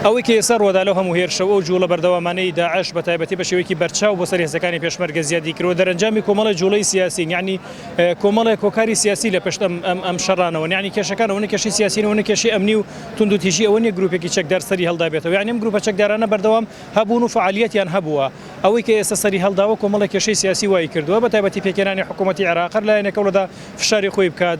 ئەوەی کە ئێستا ڕووەدا لەو هەموو هێرشە و ئەو جووڵە بەردەوامانەی داعش بە تایبەتی بە شێوەیەکی بەرچاو بۆ سەر هێزەکانی پێشمەرگە زیادی کردووە دەرەنجامی کۆمەڵێ جووڵەی سیاسین یانی کۆمەڵێک هۆکاری سیاسی لە پشت ئەم ئەم شەڕانەوەن یانی کێشەکان ئەوەنە کێشەی سیاسین ئەوەنە کێشەی ئەمنی و توندوتیژی ئەوە نییە گرووپێکی چەکدار سەری هەڵدابێتەوە یانی ئەم گرووپە چەکدارانە بەردەوام هەبوون و فەعالییەتیان هەبووە ئەوەی کە ئێستا سەری هەڵداوە کۆمەڵێ کێشەی سیاسی وای کردووە بە تایبەتی پێکهێنانی حکوومەتی عێراق هەر لایەنێکەوە لە فشاری خۆی بکات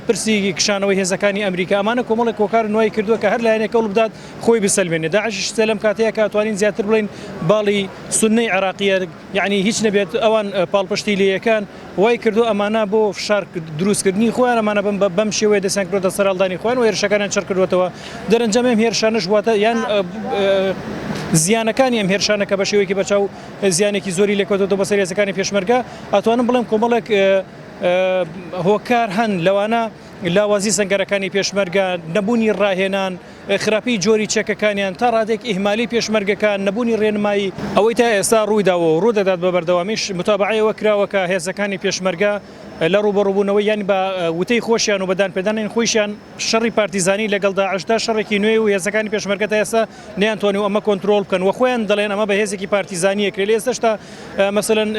پرسی کشانەوەی هێزەکانی ئەمریکا ئەمانە کۆمەڵی کۆکار نوای کردووە کە هەر لایەنێک کەڵ بدات خۆی بسەلمێنێ داعشش سێ لەم کاتەیە کاتوانین زیاتر بڵین باڵی سنەی عراقیە یعنی هیچ نەبێت ئەوان پاڵپشتی لەکان وای کردو ئەمانە بۆ فشار دروستکردنی خۆیان ئەمانە بم بەم شێوەیە دەسیان کردە سەرالدانی خۆیان و هێرشەکانیان چڕ کردوێتەوە دەرەنجامێم هێرشانش واتە یان زیانەکانی ئەم هێرشانە کە بە شێوەیەکی بەچاو زیانێکی زۆری لێکەوتەوە بەسەر هێزەکانی پێشمەرگە ئەتوانم بڵێم کۆمەڵێک هۆکار هەن لەوانە لاوازی سنگەرەکانی پێشمەرگە نەبوونی ڕاهێنان خراپی جۆری چەکەکانیان تا ڕادێک ئیهمالی پێشمەرگەکان نەبوونی ڕێنمایی ئەوەی تا ئێستا ڕوویداوە و ڕوودەدات بە بەردەوامیش متابعەوە کراوەکە هێزەکانی پێشمەرگە لە ڕوبەڕوبوونەوە یان بە وتەی خۆشیان و بەدان پێدانین خۆشیان شەڕی پارتیزانی لەگەڵدا عشدا شەڕێکی نوێ و هێزەکانی پێشمەرگە تا ئێستا نەیانتوانی ئەمە کۆنترۆڵ بکەن و خۆیان دەڵێن ئەمە بە هێزێکی پارتیزانیە کرێ لە ئێستشتا مەسەن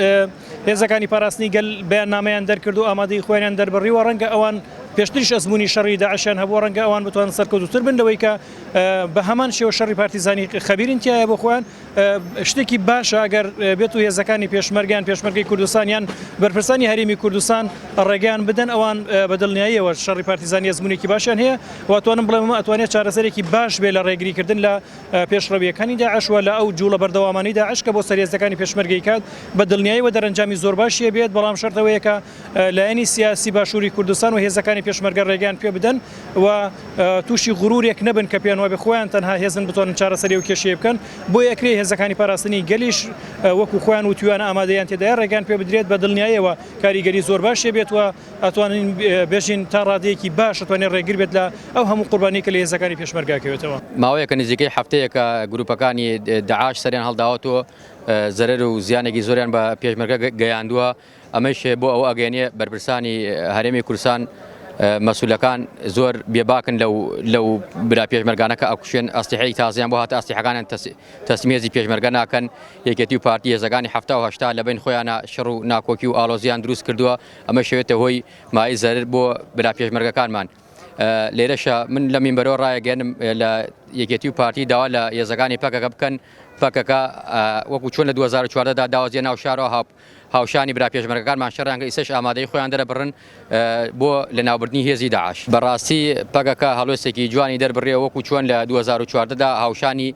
هێزەکانی پاراستنی گەل بەیان نامەیان دەرکرد و ئامادەی خۆیان دەربڕی و ڕەنگە ئەوان پێشتریش ئەزمموی شەڕی داعشیان هەبوو ڕەنگە ئەوان بتوان سەرکەوتتر بن لەوەی کە بە هەمان شێوە شەڕی پارتیزانی خەبیرین تایە بۆ خۆیان شتێکی باشە ئەگەر بێت و هێزەکانی پێشمەرگیان پێشمەرگی کوردستانیان بەرپرسانی هەرمی کوردستان ڕێگەیان بدەن ئەوان بە دڵنیاییەوە شەڕی پارتیزانی ئەزمونێکی باشیان هەیە واتوانم بڵێم ئەمە ئەتوانێت چارەسەرێکی باش بێت لە ڕێگریکردن لە پێشڕەوییەکانی داعش و لە ئەو جووڵە بەردەوامانەی داعش کە بۆ سەرهێزەکانی پێشمەرگەی کات بە دڵنیایەوە دەرەنجامی زۆر باشی هەبێت، بەڵام شەرت ئەوەیە کە لایەنی سیاسی باشووری کوردستان و هێزەکانی پێشمەرگە ڕێگەیان پێ بدەن و تووشی غرورێک نەبن کە پێیان وابێت خۆیان تەنها هێزن بتوانن چارەسەری ئەو کێشەیە بکەن، بۆیە ئەکرێت هێزەکانی پاراستنی گەلیش وەکو خۆیان وتویانە ئامادەییان تێدایە ڕێگەیان پێ بدرێت، بە دڵنیایەوە کاریگەری زۆر باشی هەبێت و ئەتوانین بێژین تا ڕادەیەکی باش ئەتوانێت ڕێگر بێت لە ئەو هەموو قوربانی کە لە هێزەکانی پێشمەرگا کەوێتەوە. ماوەیەکە نزیکەی هەفتەیەکە گرووپەکانی داعش سەریان هەڵداوەت و زەرەر و زیانێکی زۆریان بە پێشمەرگە گەیاندووە، ئەمەیش بۆ ئەوە ئەگەیەنێ بەرپرسانی هەرێمی کوردستان مەسئولەکان زۆر بێباکن لەو لەو برا پێشمەرگانە کە ئەکوشێن، ئەسلحەی تازەیان بۆ هاتە ئەسلحەکانیان تەسلیم هێزی پێشمەرگە ناکەن، یەکێتی و پارتی هێزەکانی حەفتا و هەشتا لەبەین خۆیانا شەڕ و ناکۆکی و ئاڵۆزییان دروست کردووە، ئەمەش ئەوێتە هۆی مای زەرر بۆ برا پێشمەرگەکانمان. لێرەشە من لە مینبەرەوە ڕایەگەنم لە یەکێتی و پارتی داوا لە یێزەکانی پەکەکە بکەن پەکەکە وەکو چۆن لە 2014 دا داوازیە ناو شارەوە هاپ هاوشانی برا پێشمەرگەکانمان شەڕیان کە ئیسەش ئامادەی خۆیان دەرەبڕن بۆ لە ناوبردنی هێزی داعش بەڕاستی پەکەکە هەڵوێستێکی جوانی دەربڕێ وەکو چۆن لە 2014 دا هاوشانی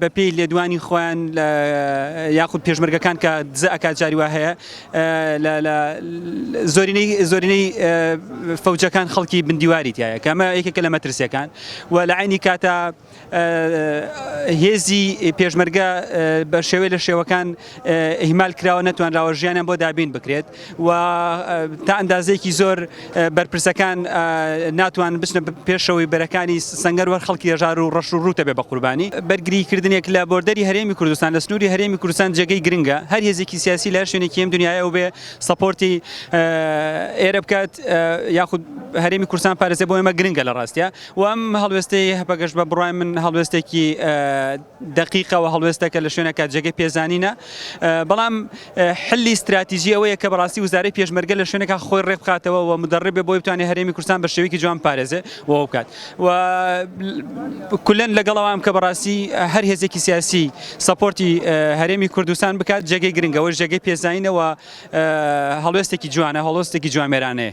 بە پێی لێدوانی خۆیان یاخود پێشمەرگەکان کە دزە ئەکات جاری وا هەیە زۆرینەی زۆرینەی فەوجەکان خەڵکی بندیواری تایە کەمە یەکێکە لە مەترسیەکان و لە عینی کاتە هێزی پێشمەرگە بە شێوەی لە شێوەکان ئیهمال کراوە نەتوانراوە ژیانیان بۆ دابین بکرێت و تا ئەندازەیەکی زۆر بەرپرسەکان ناتوان بچنە پێشەوەی بەرەکانی سنگەر وەر خەڵکی هەژار و ڕەش و ڕوتە بێ بە قوربانی بەرگری کردنێک لە بۆردەری هەرێمی کوردستان لە سنووری هەرێمی کوردستان جێگەی گرنگە هەر هێزێکی سیاسی لە شوێنێکی ئەم دنیاە و بێ سەپۆرتی ئێرە بکات یاخود هەرێمی کورسان پارێزێ بۆ ئێمە گرنگە لە ڕاستە و ئەم هەڵوێستەی هەپەگەش بە بڕای من هەڵوێستێکی دەقیقەوە هەڵوێستەکە لە شوێنەکە جێگەی پێزانینە بەڵام حلی ستراتیژی ئەوەیە کە بەڕاستی وزارەی پێشمەرگە لە شوێنەکە خۆی ڕێک بخاتەوە و مدەڕێ بێ بۆی بتوانێت هەرێمی کوردستان بە شێوەیەکی جوان پارێزێ و بکات و کولەن لەگەڵەوەم کە بەڕاستی هەر هێزێکی سیاسی سەپۆرتی هەرێمی کوردستان بکات جێگەی گرنگەوە جێگەی پێزانینەوە هەڵوێستێکی جوانە هەڵۆستێکی جوامێرانەیە